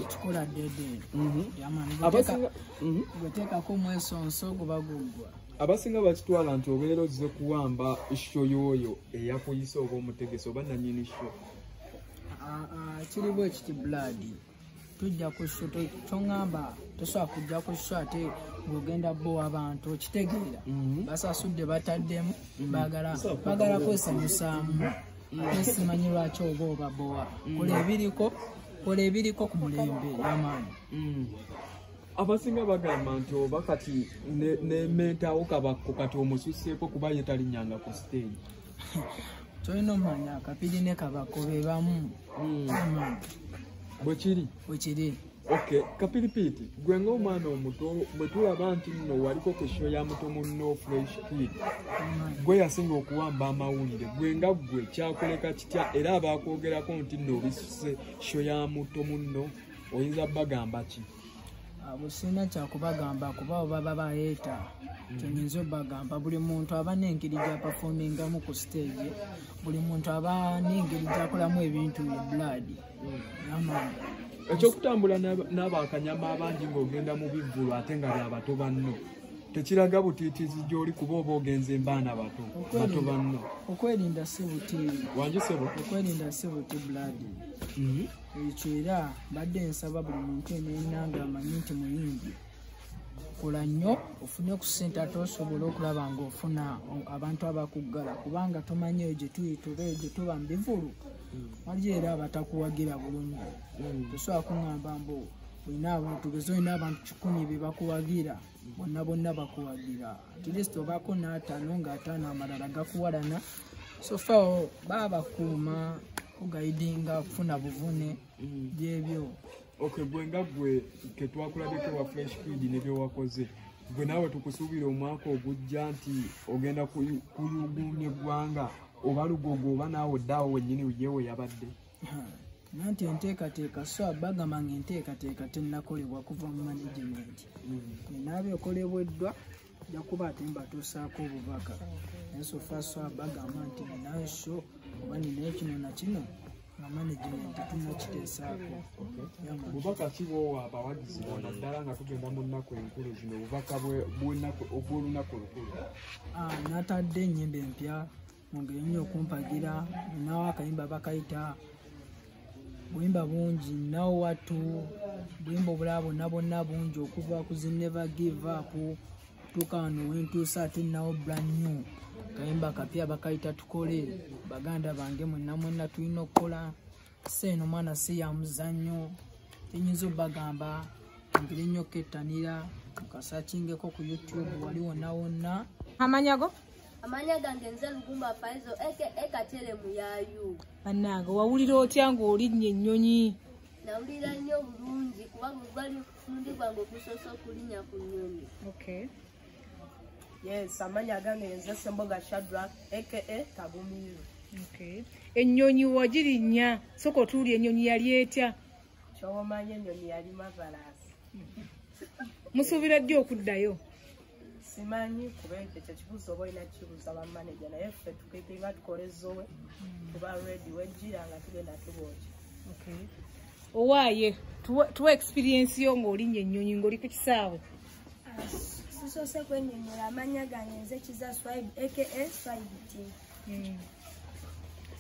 kikola dedeeteekako mwesonso guba guggwa abasinga bakitwala nti obeera ozze kuwamba sho yooyo eyakuyisa oba omutegesi oba nanyini sho ah, ah, kiriwo ekiti blood tujja ku sho toŋamba tosobola kujja ku sho ate ng'ogenda bo abantu okitegeera mhm. basasudde bataddemu mhm. bagala kwesanyusaamu simanyi lwaki oba obabowa mm. kola ebiriko kola ebiriko ku mulembe yamaani mm. abasinga bagamba nti oba kati nementawo kabakko kati omususeeko kuba ye talinyanga ku stage tolina omanya kapiri ne kabakko bebamu mm. bwekiri bwekiri Okay, kapilipiti gwe ng'omwana omuto bwe tulaba nti nno waliko ku sho ya muto munno fresh kid gwe yasinga okuwamba amawulire gwe nga ggwe kyakuleka kitya era abaakwogerako nti nno obisuse sho ya muto munno oyinza bagamba ki busina ah, kyakubagamba kuba oba babayeeta mm-hmm. kyenyinza obagamba buli muntu aba n'engeri gyapafomingamu ku stage buli muntu aba n'engeri gyakolamu ebintu eblaadi ekyokutambula n'abakanyama abangi ng'ogenda mu bivvulu ate nga byabato banno tekiraga butiitiizi gy'oli kuba oba ogenza embaana bato bato banno okwerinda si buti wangi sebo okwerinda si buti buladi mhm. ekyo era mbadde nsaba buli muntu eneyina nga amanyi nti muyimbi kola nnyo ofune ku ssente ate osobola okulaba ng'ofuna abantu abakuggala kubanga tomanyi eyo gye tuyita oba eyo gye tuba mu bivulu waliyo era abatakuwagira bulungi mm. tosobola kuŋamba mbu olina abantu tugeze olina abantu kikumi bebakuwagira bonna bonna bakuwagira atlist obaako n'ataano ng'ataano amalala gakuwalana sofa babakuuma kugaidinga okufuna buvune mm. byebyo ok gwe nga gwe ketwakulabeko wa fresh feed nebyewakoze gwe naawe tukusuubira omwaka ogujja nti ogenda kuyuguumya eggwanga oba lugogo oba naawe oddaawo wennyini uye we yabadde nanti enteekateeka so abagamba nga enteekateeka tennakolebwa kuva mu management mm. enaaba ekolebweddwa jakuba ate mbatuusaako obubaka naye sofa so abagamba nti ninayo sho oba ninayo kino na kino nga management tunakiteesaako bubaka ki bwowa abawagizi bo naddala nga tugenda mu nnaku enkulu zino obubaka obw'olunaku olukulu ah, natadde ennyimba empya mungeri nnyo okumpagira nawo akayimba bakayita buyimba bungi nawo wattu buyimba obulaba bonna bonna bungi okuva ku zineva give up tuka wano wentuusa ate nawo brand new kayimba kapya bakayita tukole baganda bange mwenna mwenna tulina okukola se eno mwana si ya muzannyo tenyinza obagamba mpire nnyo kettanira nkasakingeko ku youtube wali wonna wonna amanyago amanya gange nze lugumba faizo eke ekatere muyayu bannange wawulira otya ng'olinnye ennyonyi nawulira nnyo bulungi kuba Mulundi gwange ogusoose okulinya ku nnyonyi. Okay. Yes, amanya agange yenze Semboga Shadrack aka Kagumiru. Okay. Ennyonyi wagirinya soko tuuli ennyonyi yali etya? Ky'omanyi ennyonyi yali mavalaasi. Musuubira ddi okuddayo? simanyi kuba ekyo kyekibuuzo oba olina kibuuza bamaneja naye ffe tukitinga tukole zowe tuba redi wejjira nga tugenda tubooki owaaye tuwa experiensi yo ng'olinnya ennyonyi ng'oli ku kisaawe ah, sisoose kwenyonyola amanya gange nze kiza swib aka swibt hmm.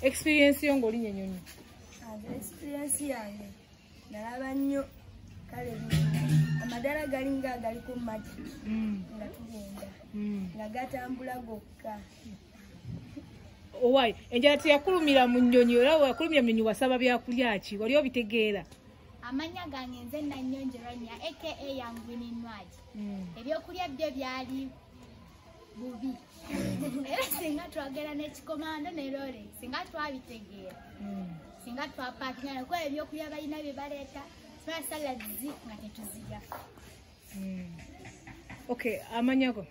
experiensi yo ng'olinnya ennyonyi ah, experiensi yange nalaba nnyo kale amadala gali nga agaliko mumaki mm. nga tugenda mm. nga gatambula gokka owai enjala teyakulumira mu nyonyi era wakulumira mu nyonyi wasaba byakulya ki wali obitegeera amanya gange nze nanyonjeranya aka yanguninwaki mm. ebyokulya byo byali bubi era singa twagera n'ekikomando ne lole singa twabitegeera hmm. singa twapakinga nakuba ebyokulya balina bye baleeta sibaa saladizi nga tetuzirya hmm. ok amanya go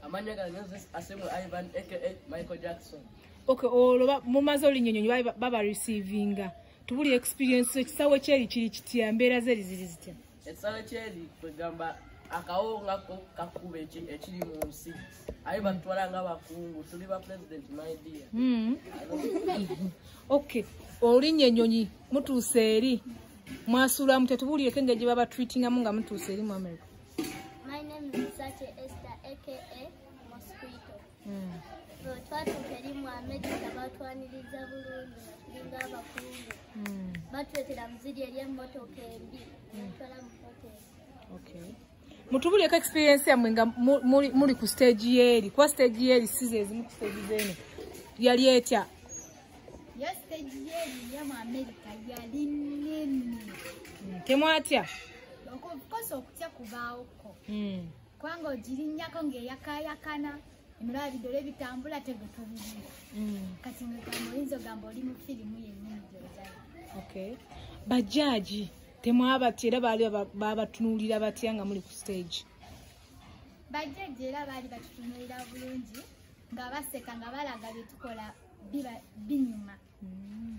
amanya gange asemu ivan aka michael jackson ok olwo mumaze olinyonyonyi baba receivinga tubuli experience ekisawo kyeri kiri kitya mbeera zeri ziri zitya ekisale kyeri kwegamba akawonga ko kakuba ekiri mu nsi aye batutwala nga bakungu tuli ba president my dear hmm. ok olinya enyonyi mutuuse eri mwasuulamu tetubuulireko engeri gye baba treatingamu nga mutuuse eri mu america My name is Sache Esther, aka Mosquito. twatuuka eri mu amerika batwaniriza bulungi natulinga abakungu hmm. batuletera muziri eri emmotoka embi natwala mu hoteri mutubuleko experience yamwe nga muli ku stage yeeri kuba stage yeeri size ezimu ku stage zeno yali etya yo stage yeeri yamu amerika yali nene hmm, temwatya okosa okutya kubaawo ko hmm. kubanga ogirinnyako ng'eyakayakana emulaba bidole bitambula tegwe tobirira mm. kati ngegamba oyinza ogamba oli mu firimu yennyini gyozala okay bajaaji temwabatya era baali babatunuulira batya nga muli ku stage bajjaja era baali batutunuulira bulungi nga baseka nga balaga byetukola binyuma mm.